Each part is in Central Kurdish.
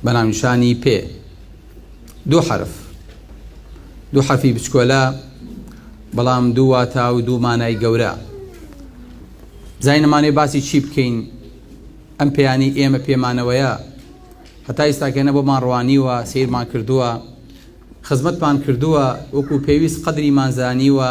بەناونیشانی، پێ، دوو حەرف. دوو حەرفی بچکۆلە، بەڵام دوو واتا و دوو مانای گەورە. زای نەمانێ باسی چی بکەین، ئەم پێیانەی ئێمە پێمانەوەیە، هەتا ئیستاکە نە بۆمان ڕوانیوە، سەیرمان کردووە، خزمەتمان کردووە، وەکوو پێویست قەدریمان زانیوە،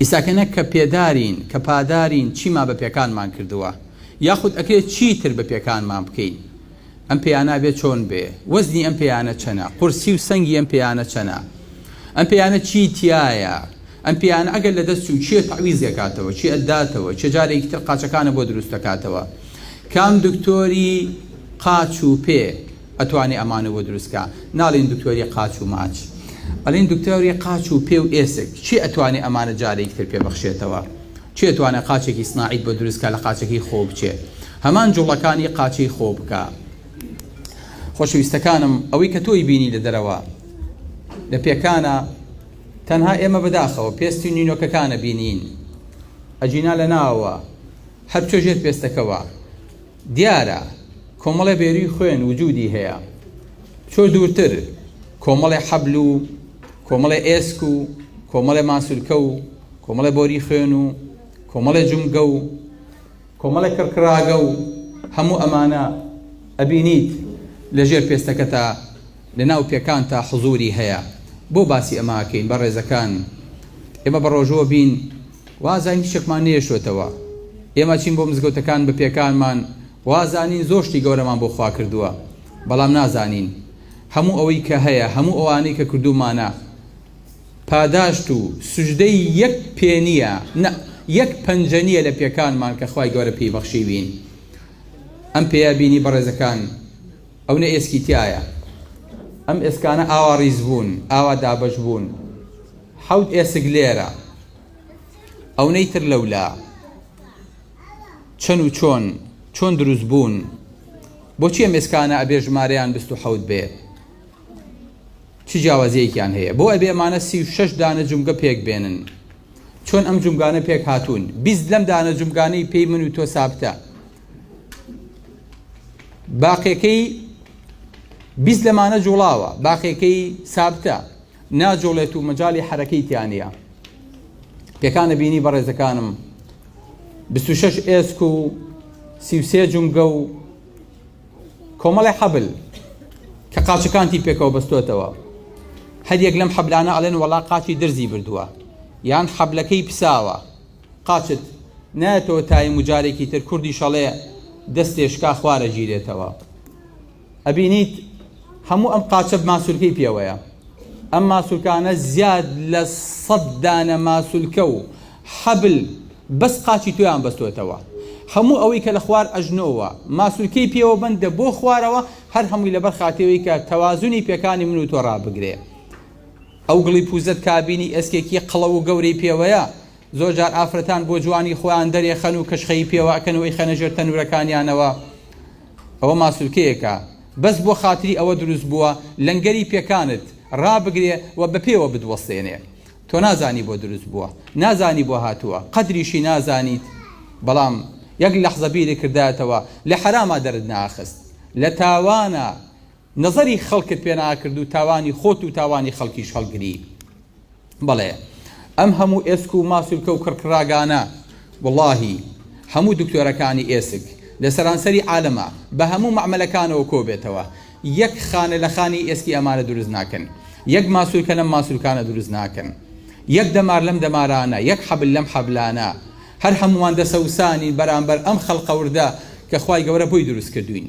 ئیستا کە نە کە پێدارین، کە پادارین چیمان بە پێکانمان کردووە؟ یاخود ئەکرێ چی تر بە پێکانمان بکەین؟ ئەم پێیانە بێ چۆن بێ؟ وەزنی ئەم پێیانە چەنە؟ قورسی و سەنگی ئەم پێیانە چەنە؟ ئەم پێیانە چی تیایە؟ ئەم پێیانە ئەگەر لە دەست چوو کێ تەعویزی ئەکاتەوە؟ کێ ئەتداتەوە؟ کێ جارێکی تر قاچەکانە بۆ دروست ئەکاتەوە؟ کام دکتۆری قاچ و پێ؟ ئەتوانی ئەمانە بۆ دروست کا. ناڵێین دکتۆری قاچ و ماچ. ئەڵێین دکتۆری قاچ و پێ و ئێسک. کێ ئەتوانێ ئەمانە جارێکی تر پێبخشێتەوە؟ کێ ئەتوانێ قاچێکی سناعیت بۆ دروست کا لە قاچەکەی خۆو بچێ. هەمان جوڵەکانی قاچەی خۆو بکا. خۆشەویستەکانم ئەوەی کە تۆی بینی لە دەرەوە لە پێکانە تەنها ئێمە بەداخەوە پێستی و نینۆکەکانە بینین. ئەگینا لە ناوەوە هەر چۆژێت پێستەکەوە. دیارە کۆمەڵێ بێروی خوێن وجودی هەیە بچۆ دوورتر کۆمەڵێ حەبل و کۆمەڵێ ئێسک و کۆمەڵێ ماسولکە و کۆمەڵێ بۆری خوێن و کۆمەڵێ جومگە و کۆمەڵێ کڕکڕاگە و هەموو ئەمانە ئەبینیت لە ژێر پێستەکەتا لە ناو پێکانتا حزوری هەیە بۆ باسی ئەمە ئەکەین بەڕێزەکان ئێمە بەڕۆژووە بین وازانین هیچێکمان نەیەشتوەتەوە ئێمە چین بۆ مزگەوتەکان بە پێکانمان وازانین زۆر شتی گەورەمان بۆ خوا کردووە بەڵام نازانین هەموو ئەوەی کە هەیە هەموو ئەوانەی کە کردومانە پاداشت و سوژدەی یەک پێ نییە نە یەک پەنجە نییە لە پێکانمان کە خوای گەورە پێی بەخشیوین ئەم پێیا بینی بەڕێزەکان ئەو نە ئێسکی تایە ئەم ئێسکانە ئاوا ڕیز بوون ئاوا دابەش بوون حەوت ئێسک لێرە ئەونەی تر لەولا چەن و چۆن چۆن دروست بوون بۆچی ئەم ئێسکانە ئەبێ ژمارەیان بیست و حەوت بێ چی جیاوازیەکیان هەیە بۆ ئەبێ ئەمانە سی و شەش دانە جومگە پێک بێنن چۆن ئەم جومگانە پێک هاتوون بیست لەم دانە جومگانەی پێی من و تۆ سابتە باقیەکەی بیست لەمانە جوڵاوە باقیەکەی سابتە ناجوڵێت و مەجالی حەرەکەی تیا نیە پێکانە بینی بەڕێزەکانم بیست و شەش ئێسک و سی و سێ جومگە و کۆمەڵی حەبل کە قاچەکانتی پێکەوە بەستۆتەوە هەریەک لەم حەبلانە ئەڵێن وەڵا قاچی درزی بردووە یان حەبلەکەی پساوە قاچت نایەتەوە تایم و جارێکی تر کوردی شەڵێ دەستێشکا خوارە گیرێتەوە ئەبینیت هەموو ئەم قاچە ماسولکەی پێوەیە ئەم ماسولکانە زیاد لە سەد دانە ماسولکە و حەبل بەس قاچی تۆیان بەستۆتەوە هەموو ئەوەی کە لە خوار ئەژنۆوە ماسولکەی پێوە بندە بۆ خوارەوە هەر هەمووی لەبەر خاتێەوەی کە تەوازنی پێکانی من و تۆ ڕابگرێ ئەو گڵی پوزەت کابینی ئێسکێکی قڵەو و گەورەی پێوەیە زۆر جار ئافرەتان بۆ جوانی خۆیان دەرێخەن و کەشخەیی پێوە ئەکەن و ئەیخەنە ژێر تەنورەکانیانەوە ئەوە ماسولکەیەکە بەس بۆ خاتری ئەوە دروست بووە لەنگەری پێکانت ڕابگرێ و بە پێوە بتوەستێنێ تۆ نازانی بۆ دروست بووە نازانی بۆ هاتووە قەدریشی نازانیت بەڵام یەک لەحزە بیرت کردایەتەوە لە حەراما دەرت ناخست لە تاوانە نەزەری خەڵکت پێ ناکرد و تاوانی خۆت و تاوانی خەڵکیش هەڵگری. بەڵێ ئەم هەموو ئێسک و ماسولکە و کڕکڕاگانە وەڵاهی هەموو دکتۆرەکانی ئێسک لە سەرانسەری عالەما بە هەموو مەعمەلەکانەوە کۆ بێتەوە یەک خانە لە خانی ئێسکی ئەمانە دروست ناکەن یەک ماسولکە لەم ماسولکانە دروست ناکەن یەک دەمار لەم دەمارانە یەک حەبل لەم حەبلانە هەر هەموومان دەسەوسانین بەرامبەر ئەم خەڵقە وردە کە خوای گەورە بۆی دروست کردووین.